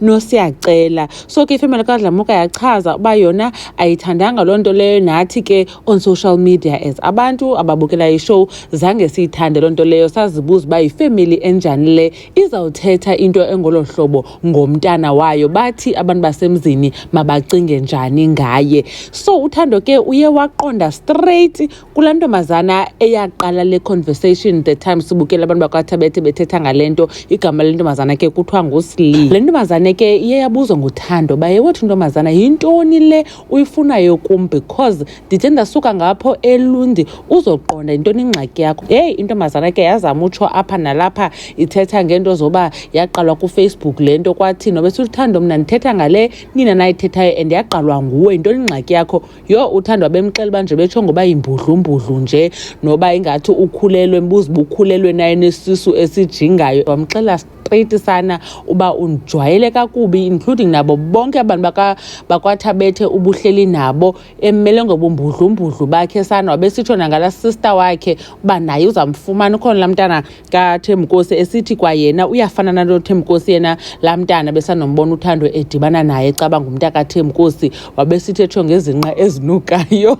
nosiyacela so ke ifemeli kadlamuka yachaza uba yona ayithandanga loo nto leyo nathi ke on social media as abantu ababukela ishow zange siyithande loo nto leyo sazibuza uba yifemeli enjani le izawuthetha into engolo hlobo ngomntana wayo bathi abantu basemzini mabacinge njani ngaye so uthando ke uye waqonda straight kulaa ntombazana eyaqala le conversation the time sibukela abantu bakwaThabethe bethetha ngale nto igama le ntombazana ke kuthiwa nguslee le ntombazane ke iye yabuzwa nguthando baye wothi ntombazana yintoni le uyifunayo kum because ndithe ndasuka ngapho elundi uzoqonda yintoni ingxaki yakho heyi intombazana ke yazama utsho apha nalapha ithetha ngento zoba yaqalwa kufacebook le nto kwathini obesiluthando mna ndithetha ngale nina nayithethayo and yaqalwa nguwe yintoni ingxaki yakho yho uthandwa bemxela uba nje betsho ngoba yimbudlumbudlu nje noba ingathi ukhulelwe mbuza uba ukhulelwe naye nesisu esijingayo wamxela straight sana uba undijwayele kakubi including nabo bonke abantu bakwathabethe ubuhleli nabo emmele ngobumbudlumbudlu bakhe sana wabesitsho nangala sister wakhe uba naye uzamfumana ukhona laa mntana kathembukosi esithi kwayena uyafana nalo thembukosi yena laa mntana besanombona uthando edibana naye caba ngumntu akathembukosi wabesithi etsho ngezinqa ezinukayo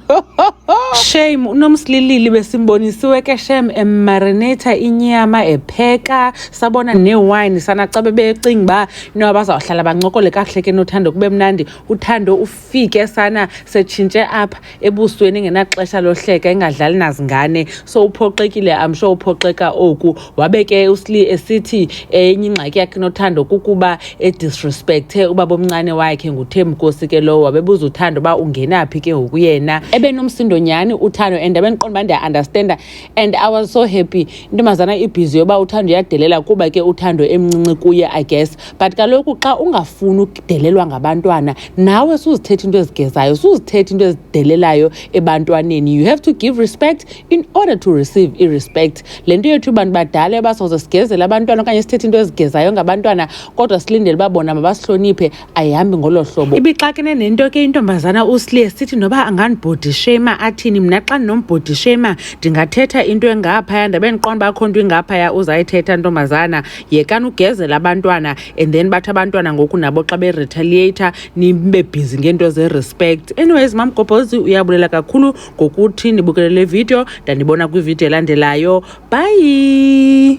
shame unomsililili besimbonisiwe ke shem emarinata inyama epheka sabona newayini sana xa bebecinga uba inoba bazawuhlala bancokole kakuhle ke nothando kube mnandi uthando fike sana setshintshe apha ebusweni engenaxesha lohleka engadlali nazingane so uphoxekile amsho uphoxeka oku wabe ke usli esithi enye ingxaki yakhe nothando kukuba edisrespecthe ubaba omncane wakhe nguthembukosi ke lowo wabebuza uthando uba ungenaphi ke ngoku yena ebenomsindo nyhani uthando and abendiqonda uba ndiya-understanda and i was so happy intombazana ibhizi yoba uthando uyadelela kuba ke uthando emncinci kuye i guess but kaloku xa ungafuni ukudelelwa ngabantwana nawe suzithetha into ezigezayo suzithetha into ezidelelayo ebantwaneni you have to give respect in order to receive irespect le nto yethu abantu badala ebasoze sigezele abantwana okanye sithethe into ezigezayo ngabantwana kodwa silindele uba bona mabasihloniphe ayihambi ngolo hlobo ibixakene nento ke intombazana uslie sithi noba angandibhodi shema athini mna xa ndinombhodi shema ndingathetha into engaphaya ndabe ndiqonda uba kho nto ingaphaya uzayithetha ntombazana yekani ugezela abantwana and then bathi abantwana ngoku nabo xa beretaliator nibe bhizi ngeento zerespect anyways mamgobhozi uyabulela kakhulu ngokuthi nibukelele video ndanibona kwividiyo elandelayo bye